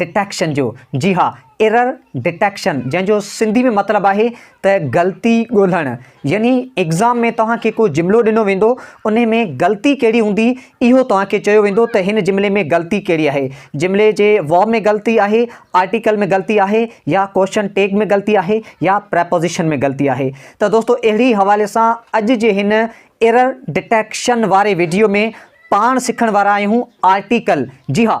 Detection جو، جي ها، Error Detection، جنهن جو سنڌي ۾ مطلب آهي ته غلطي ڳولهڻ. يعني ايگزام ۾ توهان کي ڪو جملو ڏنو ويندو، انهي ۾ غلطي ڪهڙي هوندي، اهو توهان کي چيو ويندو ته هن جملي ۾ غلطي ڪهڙي آهي. جملي جي ورب ۾ غلطي آهي، آرٽيڪل ۾ غلطي آهي يا ڪوئسچن ٽيگ ۾ غلطي آهي يا پريپوزيشن ۾ غلطي آهي. ته دوستو اهڙي حوالي سان اڄ جي هن Error Detection واري وڊيو ۾ پاڻ سکڻ وارا آهيون آرٽيڪل، جي ها،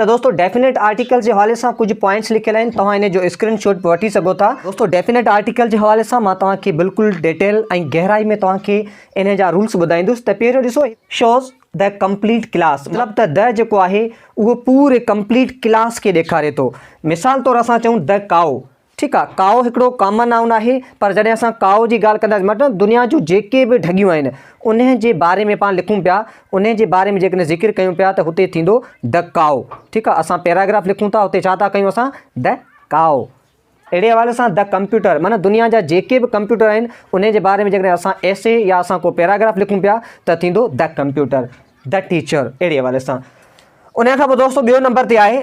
ته دوستو ڊيفينيٽ آرٽيڪل جي حوالي سان ڪجهه پوائنٽس لکيل آهن توهان ان جو اسڪرين شاٽ به وٺي سگهو ٿا دوستو ڊيفينيٽ آرٽيڪل جي حوالي سان مان توهان کي بلڪل ڊيٽيل ۽ گهرائي ۾ توهان کي ان جا رولس ٻڌائيندس ته پهريون ڏسو شوز the complete class مطلب ته the جيڪو آهي اهو پوري complete class کي ڏيکاري ٿو مثال طور اسان چئون the cow ٺيڪ آ ڪائو هڪڙو ڪامن نائون آهي پر جڏهن اسان ڪائو جي ڳالهه ڪنداسين مطلب دنيا جون جيڪي به ڍڳيون آهن انهن جي باري ۾ پاڻ لکون پيا انهن جي باري ۾ جيڪڏهن ذڪر ڪيون پيا ته هتي ٿيندو د ڪائو ٺيڪ آ اسان پيراگراف لکون ٿا هتي ڇا ٿا ڪيون اسان د ڪائو اهڙي حوالي سان د ڪمپيوٽر معنيٰ دنيا جا جيڪي به ڪمپيوٽر آهن انهن جي باري ۾ جيڪڏهن اسان ايسي يا اسان ڪو پيراگراف لکون پيا ته ٿيندو د ڪمپيوٽر د ٽيچر اهڙي حوالي سان ان کان پوء دوستو ٻيو نمبر تي آهي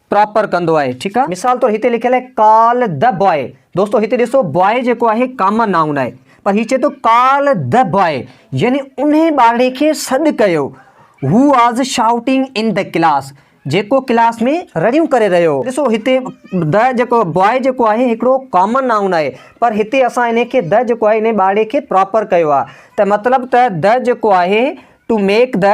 پراپر ڪندو آهي ٺيڪ آهي مثال طور هتي لکيل آهي ڪال دي باء دوستو هتي ڏسو باء جيڪو آهي ڪامن نائون آهي پر هي چئي ٿو ڪال دي باء يعني انهي ٻارڙي کي سڏ ڪيو هو was shouting in the class جيڪو ڪلاس ۾ رڙيون ڪري رهيو هو ڏسو هتي دي جيڪو باء جيڪو آهي هڪڙو ڪامن نائون آهي پر هتي اسان انهي کي دي جيڪو آهي انهي ٻارڙي کي پراپر ڪيو آهي ته مطلب ته دي جيڪو آهي ٽو ميڪ دي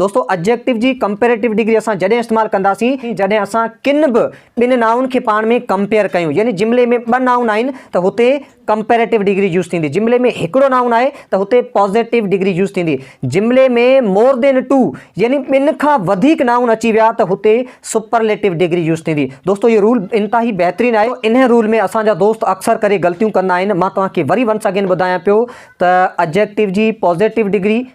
دوستو اجيڪٽو جي ڪمپيريٽو ڊگري اسان جڏهن استعمال ڪنداسين جڏهن اسان کن به ٻن نائون کي پاڻ ۾ ڪمپيئر ڪيون يعني جملي ۾ ٻه نائون آهن ته هتي ڪمپيريٽو ڊگري يوز ٿيندي جملي ۾ هڪڙو نائون آهي ته هتي پازيٽو ڊگري يوز ٿيندي جملي ۾ مور دين ٽو يعني ٻن کان وڌيڪ نائون اچي ويا ته هتي سپرليٽو ڊگري يوز ٿيندي دوستو اهو رول انتهائي بهترين آهي ان رول ۾ اسان جا دوست اڪثر ڪري غلطيون ڪندا آهن مان توهان کي وري ونس اگين ٻڌايان پيو ته اجيڪٽو جي پازيٽو ڊگري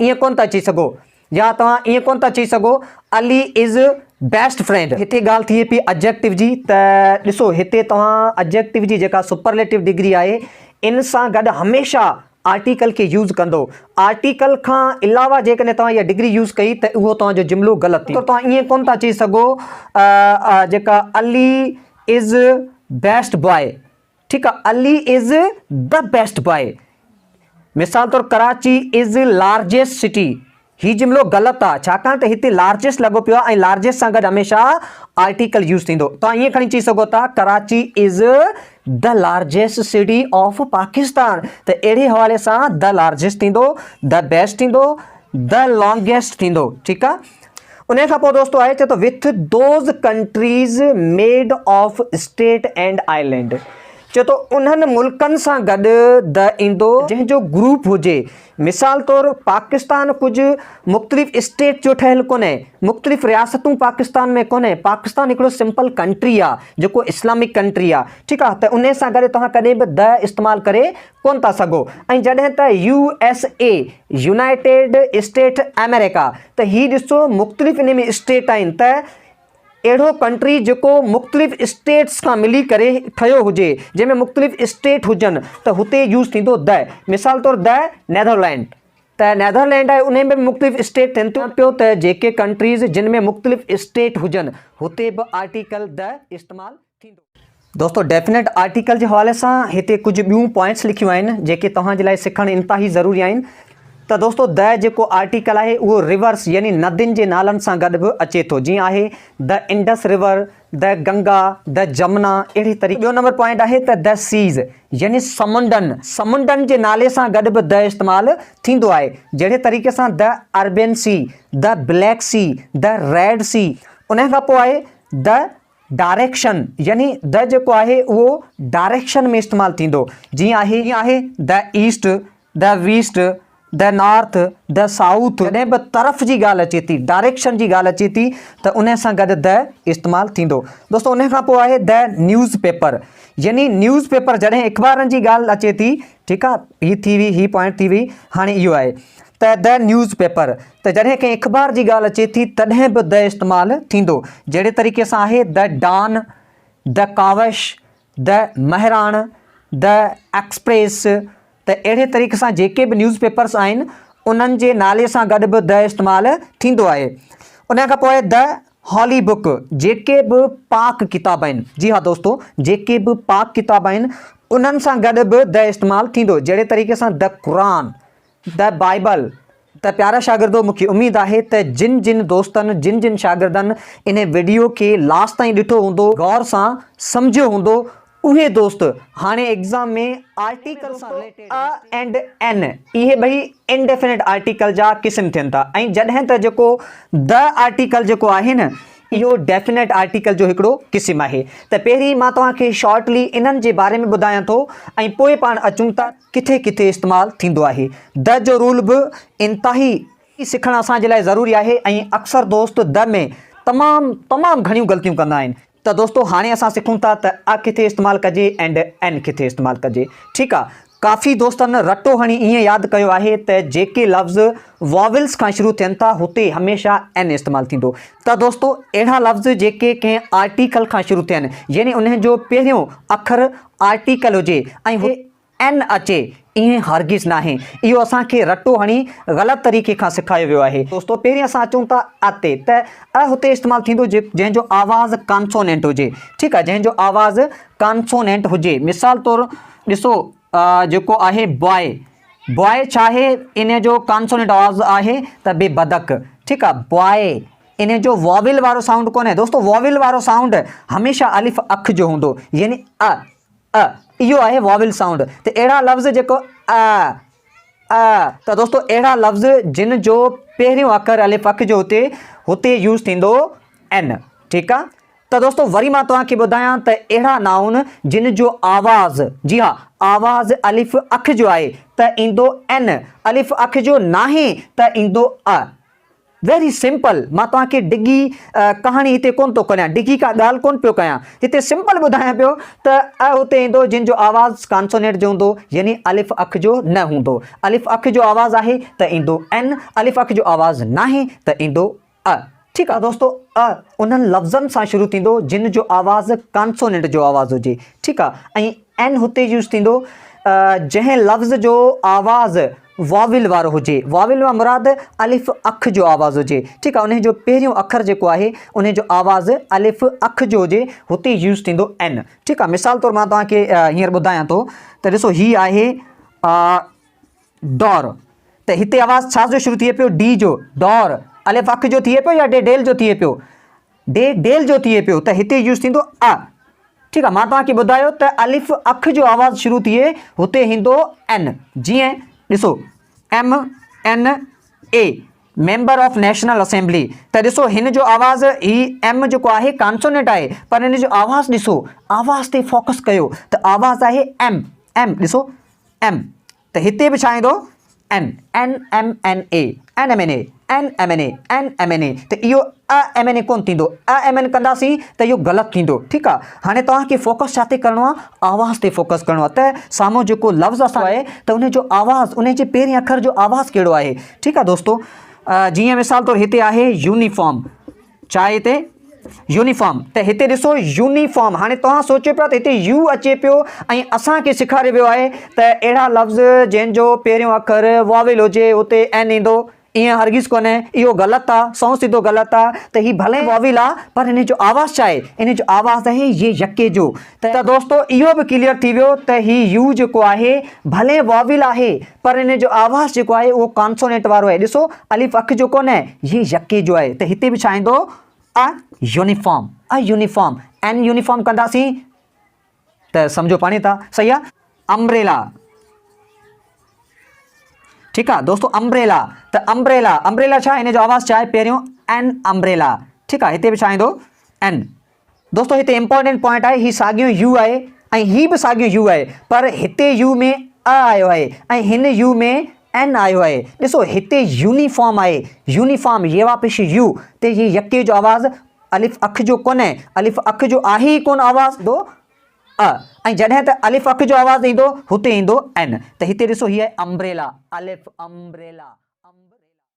ائين ڪونه ٿا چئي سگهو يا توهان ائين ڪونه ٿا چئي سگهو علي از بيسٽ فرينڊ. هتي ڳالهه ٿئي پئي اجيڪٽو جي ته ڏسو هتي توهان اجيڪٽو جي جيڪا سپرليٽو ڊگري آهي ان سان گڏ هميشه آرٽيڪل کي يوز ڪندو. آرٽيڪل کان علاوه جيڪڏهن توهان اها ڊگري يوز ڪئي ته اهو توهان جو جملو غلط ٿيندو. توهان ائين ڪونه ٿا چئي سگهو جيڪا علي از بيسٽ باء. ٺيڪ آ Ali is the best boy مثال طور ڪراچي از لارجيسٽ سٽي هي جملو غلط آ ڇاڪاڻ ته هتي لارجيسٽ لڳو پيو آ ۽ لارجيسٽ سان گڏ هميشه آرٽيڪل يوز ٿيندو توهان ائين کڻي چئي سگهو ٿا Karachi is the largest city of Pakistan ته اهڙي حوالي سان دي لارجيسٽ ٿيندو دي بيسٽ ٿيندو دي لانگيسٽ ٿيندو ٺيڪ آ انهيء کان پوء دوستو آهي چي ته with those countries made of state and island چي ٿو انهن ملڪن سان گڏ د ايندو جنهن جو گروپ هجي مثال طور پاڪستان ڪجهه مختلف اسٽيٽ جو ٺهيل ڪونهي مختلف رياستون پاڪستان ۾ ڪونهي پاڪستان هڪڙو سمپل ڪنٽري آ جيڪو اسلامڪ ڪنٽري آ ٺيڪ آ ته انهي سان گڏ توهان ڪڏهن به د استعمال ڪري ڪونه ٿا سگهو ۽ جڏهن ته U S A United State آمريڪا ته هي ڏسو مختلف ان ۾ اسٽيٽ آهن ته اهڙو ڪنٽري جيڪو مختلف اسٽيٽس کان ملي ڪري ٺهيو هجي جنهن ۾ مختلف اسٽيٽ هجن ته هتي يوز ٿيندو د مثال طور د نيڌرلينڊ ته نيڌرلينڊ آهي ان ۾ به مختلف اسٽيٽ ٿين ٿيون پيو ته جيڪي ڪنٽريز جن ۾ مختلف اسٽيٽ هجن هتي به آرٽيڪل د استعمال ٿيندو. دوستو ڊيفنيٽ آرٽيڪل جي حوالي سان هتي ڪجهه ٻيون پوائنٽس لکيون آهن جيڪي توهان جي لاء سکڻ انتهائي ضروري آهن ته دوستو the جيڪو آرٽيڪل آهي اهو رورس يعني ندين جي نالن سان گڏ به اچي ٿو جيئن آهي the Indus River the Ganga the Jamuna اهڙي طريقي ٻيو نمبر پوائنٽ آهي ته the Seas يعني سمنڊن سمنڊن جي نالي سان گڏ به the استعمال ٿيندو آهي جهڙي طريقي سان the Arabian Sea the Black Sea the Red Sea انهي کان پوء آهي the ڊائريڪشن يعني the جيڪو آهي اهو ڊائريڪشن ۾ استعمال ٿيندو جيئن آهي the east، the west، the north، the south جڏهن به طرف جي ڳالهه اچي ٿي ڊائريڪشن جي ڳالهه اچي ٿي ته ان سان گڏ the استعمال ٿيندو. دوستو ان کان پوء آهي the newspaper يعني نيوز پيپر جڏهن اخبارن جي ڳالهه اچي ٿي. ٺيڪ آ هي ٿي وئي هي پوائنٽ ٿي وئي هاڻي اهو آهي ته د نيوز پيپر ته جڏهن ڪنهن اخبار جي ڳالهه اچي ٿي تڏهن به د استعمال ٿيندو جهڙي طريقي سان آهي the Dawn the Kawish the Mehran the Express ته اهڙي طريقي سان جيڪي به نيوز پيپرس آهن انهن جي نالي سان گڏ به د استعمال ٿيندو آهي ان کان پوء د هالي بڪ، جيڪي به پاڪ ڪتاب آهن، جي ها دوستو، جيڪي به پاڪ ڪتاب آهن، انهن سان گڏ به The استعمال ٿيندو، جهڙي طريقي سان The Quran، The Bible، ته پيارا شاگردو مونکي اميد آهي ته جن جن دوستن جن جن شاگردن انهي وڊيو کي لاس تائين ڏٺو هوندو غور سان سمجهيو هوندو اهي دوست هاڻي ايگزام ۾ آرٽيڪل سان رليٽيڊ ا اينڊ ان اهي ٻئي انڊيفنٽ آرٽيڪل جا قسم ٿين ٿا ۽ جڏهن ته جيڪو the آرٽيڪل جيڪو آهي نه اهو ڊيفنٽ آرٽيڪل جو هڪڙو قسم آهي ته پهرين مان توهان کي شارٽلي انهن جي باري ۾ ٻڌايان ٿو ۽ پوء پاڻ اچون ٿا ڪٿي ڪٿي استعمال ٿيندو آهي the جو رول به انتهائي سکڻ اسان جي لاء ضروري آهي ۽ اڪثر دوست the ۾ تمام تمام گهڻيون غلطيون ڪندا آهن. ته دوستو هاڻي اسان سکون ٿا ته a ڪٿي استعمال ڪجي and an ڪٿي استعمال ڪجي ٺيڪ آ ڪافي دوستن رٽو هڻي ائين ياد ڪيو آهي ته جيڪي لفظ Vowels کان شروع ٿين ٿا هتي هميشه an استعمال ٿيندو ته دوستو اهڙا لفظ جيڪي ڪنهن آرٽيڪل کان شروع ٿين يعني انهن جو پهريون اکر آرٽيڪل هجي ۽ اين اچي، ائين هرگز ناهي. اهو اسان کي رٽو هڻي غلط طريقي کان سکايو ويو آهي. دوستو، پهرين اسان اچون ٿا ء تي، ته ء هتي استعمال ٿيندو جنهن جو آواز ڪانسونينٽ هجي. ٺيڪ آهي، جنهن جو آواز ڪانسونينٽ هجي. مثال طور ڏسو ء جيڪو آهي باء، باء ڇا آهي؟ ان جو ڪانسونينٽ آواز آهي ته به بدڪ. ٺيڪ آهي، باء. ان جو واويل وارو سائونڊ ڪونهي. دوستو، واويل وارو سائونڊ هميشه الف اک جو هوندو يعني ء. ء اهو آهي واول سائونڊ ته اهڙا لفظ جيڪو ء ء ته دوستو اهڙا لفظ جن جو پهريون اکر الف اک جو هتي هتي يوز ٿيندو ان ٺيڪ آ ته دوستو وري مان توهان کي ٻڌايان ته اهڙا نائون جن جو آواز جي ها آواز الف اک جو آهي ته ايندو ان الف اک جو ناهي ته ايندو ء ويري سمپل مان توهان کي ڊگهي ڪهاڻي هتي ڪونه ٿو ڪريان ڊگهي ڪا ڳالهه ڪونه پيو ڪيان هتي سمپل ٻڌايان پيو ته ء هتي ايندو جنهن جو آواز ڪانسونيٽ جو هوندو يعني الف اک جو نه هوندو الف اک جو آواز آهي ته ايندو ن الف اک جو آواز ناهي ته ايندو ء ٺيڪ آهي دوستو ء انهن لفظن سان شروع ٿيندو جن جو آواز ڪانسونيٽ جو آواز هجي ٺيڪ آهي ۽ ن هتي يوز ٿيندو جنهن لفظ جو آواز واويل وارو هجي، واويل مان مراد الف اک جو آواز هجي ٺيڪ آهي انهي جو پهريون اکر جيڪو آهي انهي جو آواز الف اک جو هجي هتي يوز ٿيندو ان ٺيڪ آهي مثال طور مان توهان کي هينئر ٻڌايان ٿو ته ڏسو هي آهي ڊور ته هتي آواز ڇا جو شروع ٿئي پيو ڊي جو ڊور الف اک جو ٿئي پيو يا ڊي ڊيل جو ٿئي پيو ڊي ڊيل جو ٿئي پيو ته هتي يوز ٿيندو ا ٺيڪ آهي مان توهان کي ٻڌايو ته الف اک جو آواز شروع ٿئي هتي هيندو ان جيئن ڏسو M N A member of National Assembly ته ڏسو هن جو آواز هي ايم جيڪو آهي ڪانسونيٽ آهي پر هن جو آواز ڏسو آواز تي فوڪس ڪيو ته آواز آهي ايم ايم ڏسو ايم ته هتي به ڇا ايندو؟ N, N M N A, N M N A, N M N A, N M N A ته اهو ا ايم اين اي ڪونه ٿيندو، ا ايم اين ڪنداسين ته اهو غلط ٿيندو ٺيڪ آ هاڻي توهان کي فوڪس ڇا تي ڪرڻو آ آواز تي فوڪس ڪرڻو آ ته سامهون جيڪو لفظ اسان آهي ته ان جو آواز ان جي پهرين اکر جو آواز ڪهڙو آهي ٺيڪ آ دوستو جيئن مثال طور هتي آهي يونيفارم. چاهي تي يونيفارم ته هتي ڏسو يونيفارم هاڻي توهان سوچيو پيا ته هتي يو اچي پيو ۽ اسان کي سيکاريو ويو آهي ته اهڙا لفظ جنهن جو پهريون اکر واويل هجي اتي اين ايندو ائين هرگز ڪونهي اهو غلط آ سون سڌو غلط آ ته هي ڀلي واويل آ پر هن جو آواز ڇا آهي ان جو آواز آهي ي يڪي جو ته دوستو اهو به ڪليئر ٿي ويو ته هي يو جيڪو آهي ڀلي واويل آهي پر ان جو آواز جيڪو آهي اهو ڪانسونينٽ وارو آهي ڏسو الف اک جو ڪونهي هي يڪي جو آهي ته هتي به ڇا ايندو a uniform a uniform an uniform ڪنداسين ته سمجهو پاڻي ٿا صحيح آ امبريلا ٺيڪ آ دوستو امبريلا ته امبريلا امبريلا ڇا ان جو آواز ڇا آهي پهريون ان امبريلا ٺيڪ آ هتي به ڇا ايندو ان دوستو هتي امپورٽنٽ پوائنٽ آهي هي ساڳيو يو آهي ۽ هي به ساڳيو يو آهي پر هتي يو ۾ ا آيو آهي ۽ هن يو ۾ ان آيو آهي ڏسو هتي يونيفارم آهي يونيفارم يوا پش يو تي هي يڪي جو آواز الف اک جو ڪونهي الف اک جو آهي ئي ڪون آواز دو ا ۽ جڏهن ته الف اک جو آواز ايندو هتي ايندو ان ته هتي ڏسو هي آهي امبريلا الف امبريلا